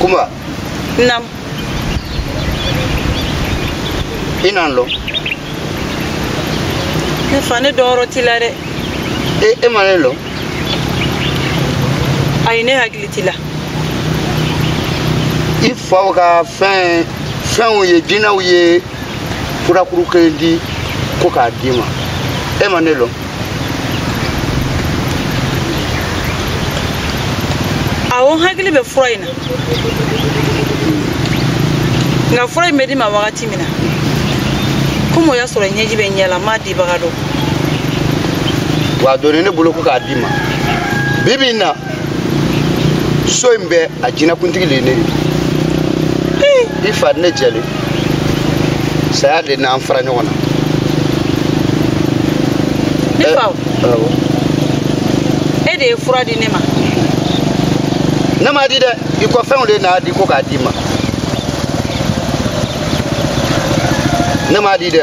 Kumba, Naam. i n'an lɔn. Ne fa ne dɔnyɔrɔ t'i la dɛ. E e ma ne lɔn. Ayi ne hakili t'i la. I faw ka fɛn finw ye jinaw ye furakuru kelen di ko k'a d'i ma e ma ne lɔn awɔ n hakili bɛ fura in na nka fura in bɛ di n ma wagati min na komi o y'a sɔrɔ ɲɛji bɛ n ɲɛ la n m'a dibaga dɔn wa a donni ne bolo ko k'a d'i ma bi bi in na so in bɛɛ a jinakuntigi le ye ne ye i fa ne jɛlen saya le n'an fara ɲɔgɔn na ne fa e de ye fura di ne ma ne m'a di dɛ i kɔfɛnw le n'a di ko k'a d'i ma ne m'a di dɛ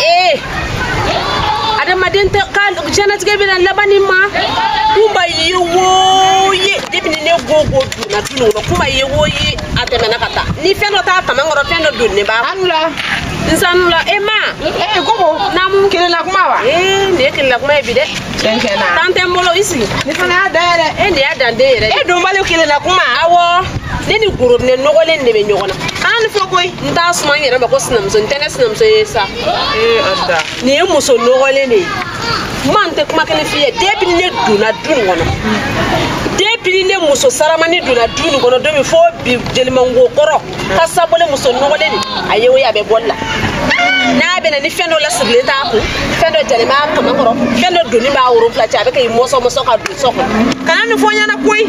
ee adamaden tɛ ka jɛnatigɛ bɛna laban nin ma Kumba ye wo ye depi ni ne Gogo donna du nin kɔnɔ Kumba ye wo ye a tɛmɛna ka taa ni fɛn dɔ t'a kaman kɔrɔ fɛn dɔ donnen b'a anula nsanula e ma ee Gogo naamu kelelakuma wa ee nin ye kelelakuma ye bi dɛ Cɛncɛn na. Tan tɛ n bolo i sigi. Ne fana y'a da yɛrɛ. E de ye adamaden yɛrɛdɔnbali. Kelelakuma. Awɔ. Ne ni gorobinɛ nɔgɔlen de bɛ ɲɔgɔn na. An ni fɔ koyi. N t'a suma n yɛrɛ ma ko sinamuso n tɛ ne sinamuso ye sa. Ee a da. Nin ye muso nɔgɔlen de ye. Ma n tɛ kuma kelen f'i ye. Depi ni ne donna du nin kɔnɔ. Depi ni ne muso saramani donna du nin kɔnɔ don min fo bi jelimango kɔrɔ. k'a sabu le muso nɔgɔlen nin a ye o ye a bɛ boli la n'a bɛ na ni fɛn dɔ lasigilen t'a kun fɛn dɔ jalen b'a kaman kɔrɔ fɛn dɔ donnen b'a woro fila cɛ a bɛ ka i mɔsɔmɔsɔ ka don so kɔnɔ kana nin fɔ n ɲɛna koyi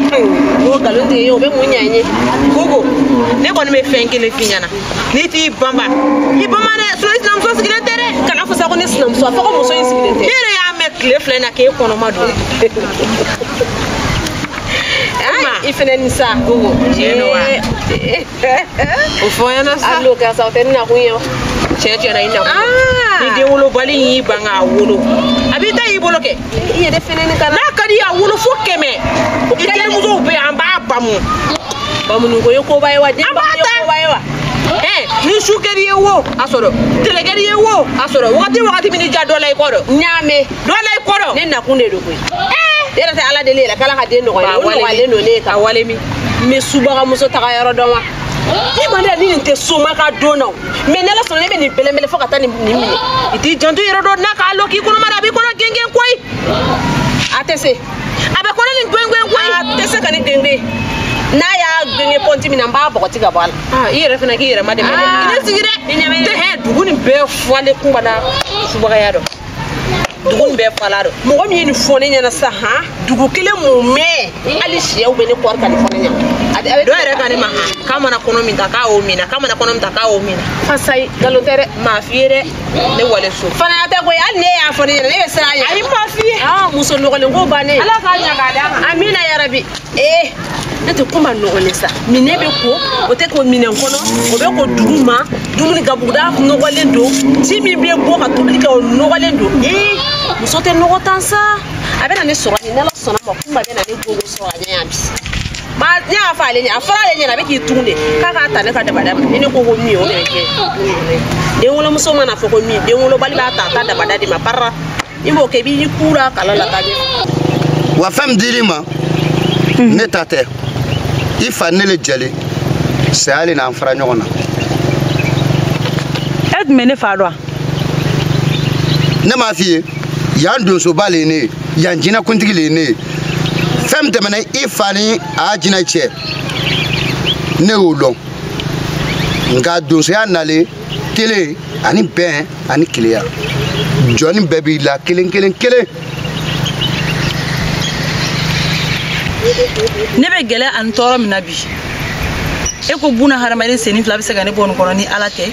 o nkalon tɛ ye o bɛ mun ɲa n ye gogo ne kɔni bɛ fɛn kelen f'i ɲɛna n'i t'i banba i banba dɛ sinɔn i sinamuso sigilen tɛ dɛ kan'a fɔ sa ko ne sinamuso a fɔ ko muso in sigilen tɛ ne yɛrɛ y'a mɛn tile fila in na k'e kɔnɔma don i fɛnɛ ni sa gogo tiɲɛ don wa o fɔ n ɲɛna sa a lo karisa o tɛ n nakun ye o tiɲɛ tiɲɛ na i nakun ah. ni den wolobali y'i ban k'a wolo a b'i ta y'i bolo kɛ i yɛrɛ fɛnɛ ni kana n'a ka d'i y'a wolo fo kɛmɛ i terimusow bɛ an b'a bamu bamuniko ye koba ye wa den bamu ye koba ye wa ni su kɛr'i ye wo a sɔrɔ tɛlɛ kɛr'i ye wo a sɔrɔ wagati wagati min n'i y'a dɔ la i kɔrɔ n y'a mɛn dɔla i kɔrɔ ne nakun de don koyi e yɛrɛ tɛ ala deli yɛrɛ k'ala ka den nɔgɔya o nɔgɔyalen don ne ye ka wale min n bɛ subagamuso taga yɔrɔ dɔn wa i ma ne ni nin tɛ soma ka don na mɛ n'ala sɔnna ne bɛ nin bɛlɛnbɛlɛ fo ka taa nin minɛ i t'i janto i yɛrɛ dɔ n'a k'a lɔn k'i kɔnɔma na a b'i kɔnɔ gengen koyi a tɛ se a bɛ kɔnɔ nin gengen koyi a tɛ se ka ne gengen n'a y'a gengen pɔnti min na n b'a bɔgɔti ka bɔ a la i yɛrɛ fana k'i yɛrɛ ma dɛmɛ ne sigi dɛ dugu nin bɛɛ falen kumba na subagaya dɔ dugu nin bɛɛ fal'a dɔ mɔgɔ min ye nin fɔ ne ɲɛna sisan han dugu kelen mumɛ hali siyɛw bɛ ne kɔri ka nin fɔ ne ɲɛna dɔ yɛrɛ ko ne ma han k'a mana kɔnɔ min ta k'a y'o mina k'a mana kɔnɔ min ta k'a y'o mina fasayi nkalon tɛ dɛ n m'a f'i ye dɛ ne wale so faniya tɛ koyi hali n'i y'a fɔ ne ɲɛna ne bɛ siran a ɲɛ ayi n m'a f'i ye muso nɔgɔlen ko bannen ala k'a ɲaga d'a ma amina yarabi ee ne tɛ kuma nɔgɔlen sa minɛn bɛ ko o tɛ ko minɛn kɔnɔ o bɛ ko dugu ma dumuni gabuguda nɔgɔlen don ji min bɛ bɔ ka tobili kɛ o nɔgɔlen don ee muso tɛ nɔgɔ tan sa a bɛna ne sɔrɔ nin n'ala sɔnna ma kuma bɛna ne gogo sɔrɔ a ɲɛ yan bi ma n'i y'a fɔ ale ɲɛ a fɔra ale ɲɛna a bɛ k'i tugu de k'a k'a ta ne ka dabada ma ni ne ko ko min ye o de bɛ kɛ den wolomuso mana fɔ ko min den wolobali b'a ta a ta dabada de ma parara i b'o kɛ i b'i kura kala la ka ɲɛ wa fɛn min dir'i ma mhm. ne ta tɛ i fa ni ne le jɛlen saya le n'an fara ɲɔgɔn na e tun bɛ ne fa dɔn wa ne m'a f'i ye yan donsoba le ye ne ye yan jinɛkuntigi le ye ne ye fɛn min tɛmɛna i fa ni a jinɛ cɛ ne y'o lɔn nka donsoya nalen kelen ani bɛn ani keleya jɔni bɛɛ b'i la kelen kelen kelen ne bɛ gɛlɛya ani tɔɔrɔ min na bi e ko buna hadamaden senni fila bɛ se ka ne bɔ nin kɔnɔ ni ala tɛ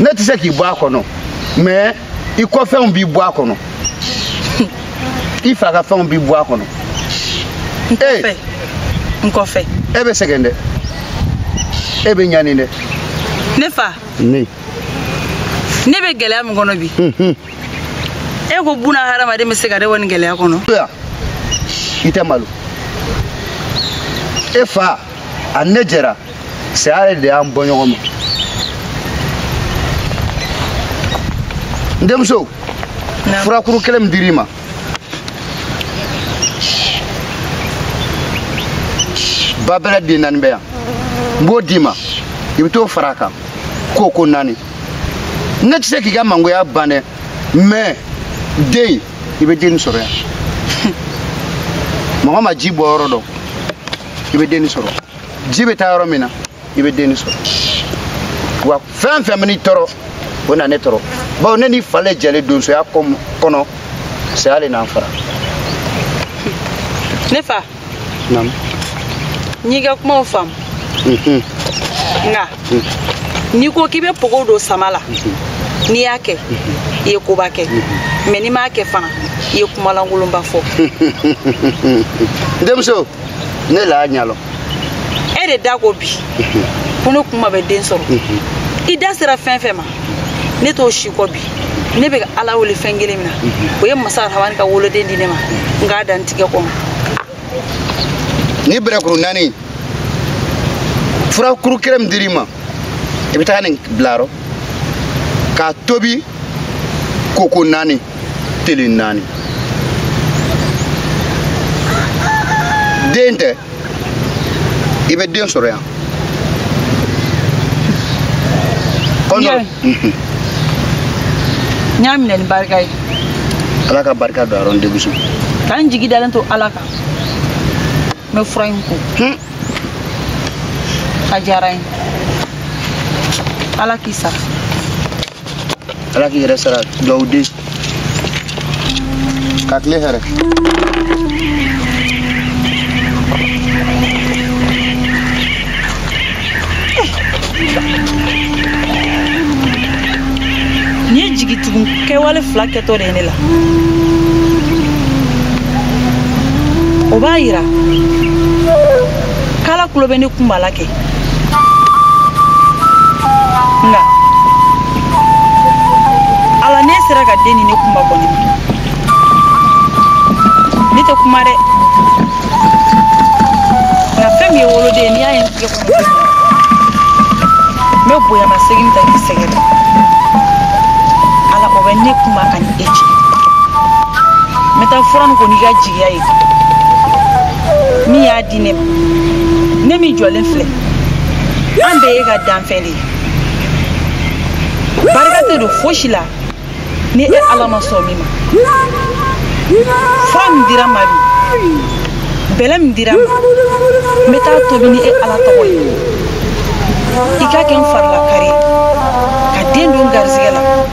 ne tɛ se k'i bɔ a kɔnɔ mɛ i kɔfɛnw b'i bɔ a kɔnɔ i fa ka fɛnw b'i bɔ a kɔnɔ n kɔfɛ eh! n kɔfɛ e bɛ sɛgɛn dɛ e bɛ ɲani dɛ ne fa ne ne bɛ gɛlɛya min kɔnɔ bi e ko buna hadamaden bɛ se ka ne bɔ nin gɛlɛya kɔnɔ i tɛ malo e fa ani ne jɛra saya de y'an bɔ ɲɔgɔn ma n denmuso furakuru kelen min dir'i ma babɛlɛ den naani bɛ yan n b'o d'i ma i bɛ t'o fara a kan k'o ko naani ne tɛ se k'i ka mangoya ban dɛ mɛ den i bɛ den sɔrɔ yan mɔgɔ ma ji bɔ yɔrɔ dɔn i bɛ den sɔrɔ ji bɛ taa yɔrɔ min na i bɛ denni sɔrɔ wa fɛn fɛn man'i tɔɔrɔ o na ne tɔɔrɔ bawo ne n'i fa le jɛlen donsoya kɔnɔ saya de n'an fara ne fa naamu n y'i ka kumaw faamu mhm. nka mhm. n'i ko k'i bɛ pogo don sama la mhm. n'i y'a kɛ i ye koba kɛ mɛ n'i m'a kɛ fana i ye kuma lankolonba fɔ denmuso ne la ɲalɔ e de da ko bi ko ne kunba bɛ den sɔrɔ i da sera fɛn fɛn ma ne t'o si kɔ bi ne bɛ ala wele fɛn kelen min na o ye masa rahamani ka woloden di ne ma n k'a da n tigɛ kɔnɔ ni bɛrɛkuru naani fura kuru kelen min dir'i ma i bɛ taa nin bil'a rɔ k'a tobi koko naani tele naani den tɛ i bɛ den sɔrɔ yan n y'a minɛ ni barika ye ala ka barika don a rɔ n denmuso k'an jigi dalen to ala kan n bɛ fura in ko a diyara n ye ala k'i sara ala k'i yɛrɛ sara dugawuden ka tile hɛrɛ nin ye jigi tugun kɛwale fila kɛtɔ de ye ne la o b'a yira k'ala tulo bɛ ne kunba la kɛ nka ala n'e sera ka den di ne kunba kɔni ne tɛ kuma dɛ nka fɛn min ye woloden ye n'i y'a ye n tigɛ kɔnɔ n bɛ bonyama segin ta k'i sɛgɛrɛ ala o bɛ ne kunba ani e cɛ n bɛ taa fura nin ko n'i ka jigiya ye min y'a di ne ma ne min jɔlen filɛ an bɛɛ y'e ka danfɛn de ye barika tɛ don fosi la ni e ala ma sɔn min ma fura min dira n ma bi bɛlɛ min dira n ma n bɛ t'a tobi ni e ala tɔgɔ ye i k'a kɛ n fari lakari ye ka den don n garisɛgɛ la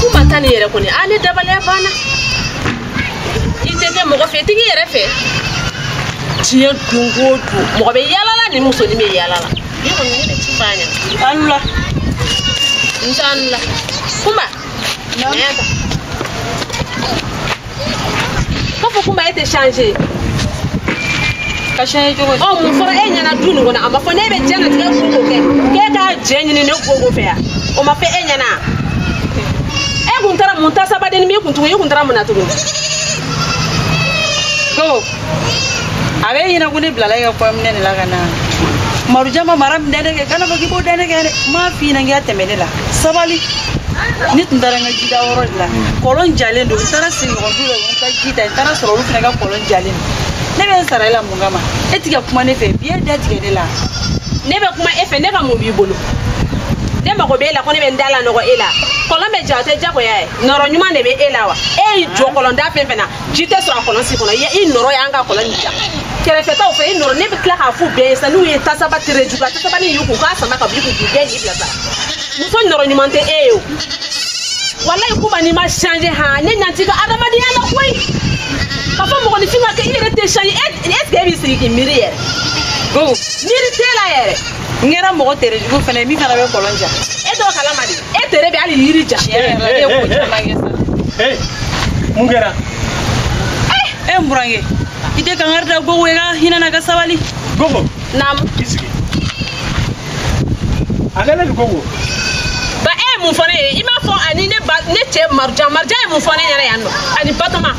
kunba ta nin yɛrɛ kɔni a ne dabaliya banna i tɛ kɛ mɔgɔ fɛ i tɛ k'i yɛrɛ fɛ diɲɛ don o don mɔgɔ bɛ yalala ni musonin bɛ yalala ne kɔni ne bɛ ci f'a ɲɛna an la n t'an la kunba k'a fɔ kumba e tɛ changer ka changer cogo di ɔ mun fɔra e ɲɛna du nin kɔnɔ a ma fɔ n'e bɛ diɲɛnatigɛ ko ko kɛ k'e ka jɛn ɲini ne gogo fɛ yan o ma fɔ e ɲɛna e kun taara mun tasabadennin b'i kun tugun e kun taara mun na tugun ko a b'e ɲɛna ko ne bilala i ka kɔɲɔminɛ de la ka na marujan ma mara min da ne kan kana fɔ k'i b'o da ne kan dɛ n m'a f'i ɲɛna k'i ka tɛmɛ ne la sabali ne tun taara n ka jita yɔrɔ de la kɔlɔn jalen don n taara sigiɲɔgɔn du dɔ n ka ji ta n taara sɔrɔ olu fana ka kɔlɔn jalen don ne bɛ n sara i la mun kama e ti ka kuma ne fɛ bi e da tigɛ ne la ne bɛ kuma e fɛ ne ka mun b'i bolo ne mago b'e la ko ne bɛ n da lanɔgɔ e la kɔlɔn bɛ ja o tɛ jagoya ye nɔrɔ ɲuman de bɛ e la wa e y'i jɔ kɔlɔnda fɛn fɛn na ji tɛ sɔrɔ a kɔlɔn si kɔnɔ i nɔrɔ y'an ka kɔlɔn nin ja kɛrɛfɛtaw fɛ i nɔrɔ ne bɛ tila k'a f'u bɛɛ ye sa n'u ye tasaba tere jugu a tasaba nin ye k'u k'a sama ka b'i kun k'u bɛɛ n'i bila sa muso nɔrɔ ɲuman tɛ e ye o walayi kumba n'i ma changer han ne ɲɛ t'i ka adamadenya la koyi ka fɔ mɔgɔninfin ka kɛ i yɛrɛ tɛ changer est ce que e b'i sigi k'i miiri yɛrɛ miiri t'e la yɛrɛ n kɛra mɔgɔ tere jugu fana ye min fana bɛ kɔlɔn ja e t'o kalama dɛ e tere bɛ hali yiri ja yɛrɛ yɛrɛ la e ye ko caman kɛ sa ee mun kɛra e n burankɛ i tɛ kankari da gogo ye ka hinɛ n na ka sabali gogo naamu i sigi a kɛlen don gogo ba e ye mun fɔ ne ye i m'a fɔ ani ne ba ne cɛ marujan marujan ye mun fɔ ne ɲɛna yan nɔ ani batoma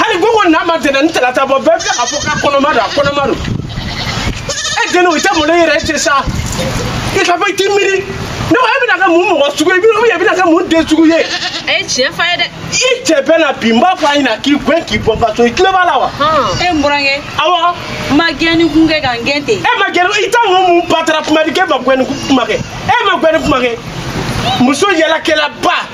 hali ko ko n'a ma tɛnɛn ni talata bɔ bɛɛ bɛ k'a fɔ k'a kɔnɔma don a kɔnɔma don e dun i tɛ malo yɛrɛ e tɛ sa i ka fɔ i t'i miiri ne ko e bɛna kɛ mun mɔgɔ sugu ye ou bien e bɛna kɛ mun den sugu ye. a ye tiɲɛ f'a ye dɛ. i cɛ bɛ na bi n b'a fɔ a ɲɛna k'i gɛn k'i bɔ n ka so i tulo b'a la wa. e n burankɛ. awɔ. n ma gɛnni kun kɛ ka n gɛn ten. e ma gɛn i t'a ŋo mun batara kuma di k'e ma gɛnni kuma kɛ e ma gɛnni kuma kɛ muso yɛlɛkɛlaba.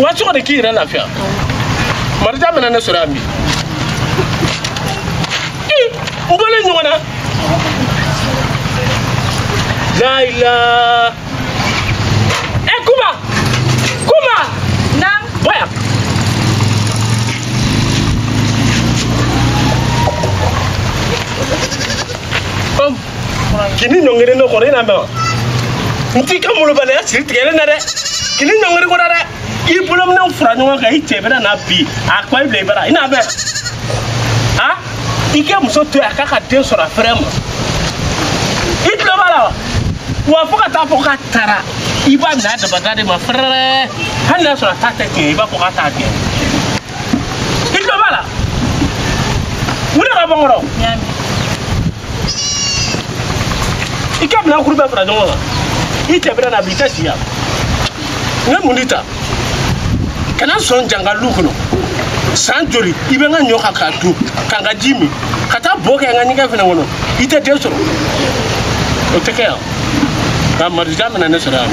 wa so kɔnɔ k'i yɛrɛ lafiya marujan bɛna ne sɔrɔ yan bi u bɔlen ɲɔgɔn na layila ɛ eh, kumba kumba na bɔ yan Boom. kan'i ɲɔngiri ne kɔrɔ i n'a mɛn wa n t'i ka malobaliya siri tigɛlen na dɛ kan'i ɲɔngiri n kɔrɔ dɛ i bolominɛnw fara ɲɔgɔn kan i cɛ bɛna na bi a ka wa i bila i bara i n'a mɛn a i ka muso to yen a k'a ka den sɔrɔ a fɛrɛ ma i tulo b'a la wa wa fo ka taa fɔ k'a taara i b'a minɛ a dabada de ma fɛrɛrɛ hali n'a sɔrɔ a ta tɛ tiɲɛ i b'a fɔ k'a ta tiɲɛ i tulo b'a la wuli ka bɔ n kɔrɔ i ka minɛn kuru bɛɛ fara ɲɔgɔn kan i tɛbɛrɛ na bi i tɛ si yan n ye mun de ta ka na sɔn yan n ka lu kɔnɔ san joli i bɛ n ka ɲɔ kan k'a dun ka n ka ji min ka taa bo kɛ n ka ɲɛgɛn fana kɔnɔ i tɛ den sɔrɔ o tɛ kɛ yan ka marija mina ne sɔrɔ yan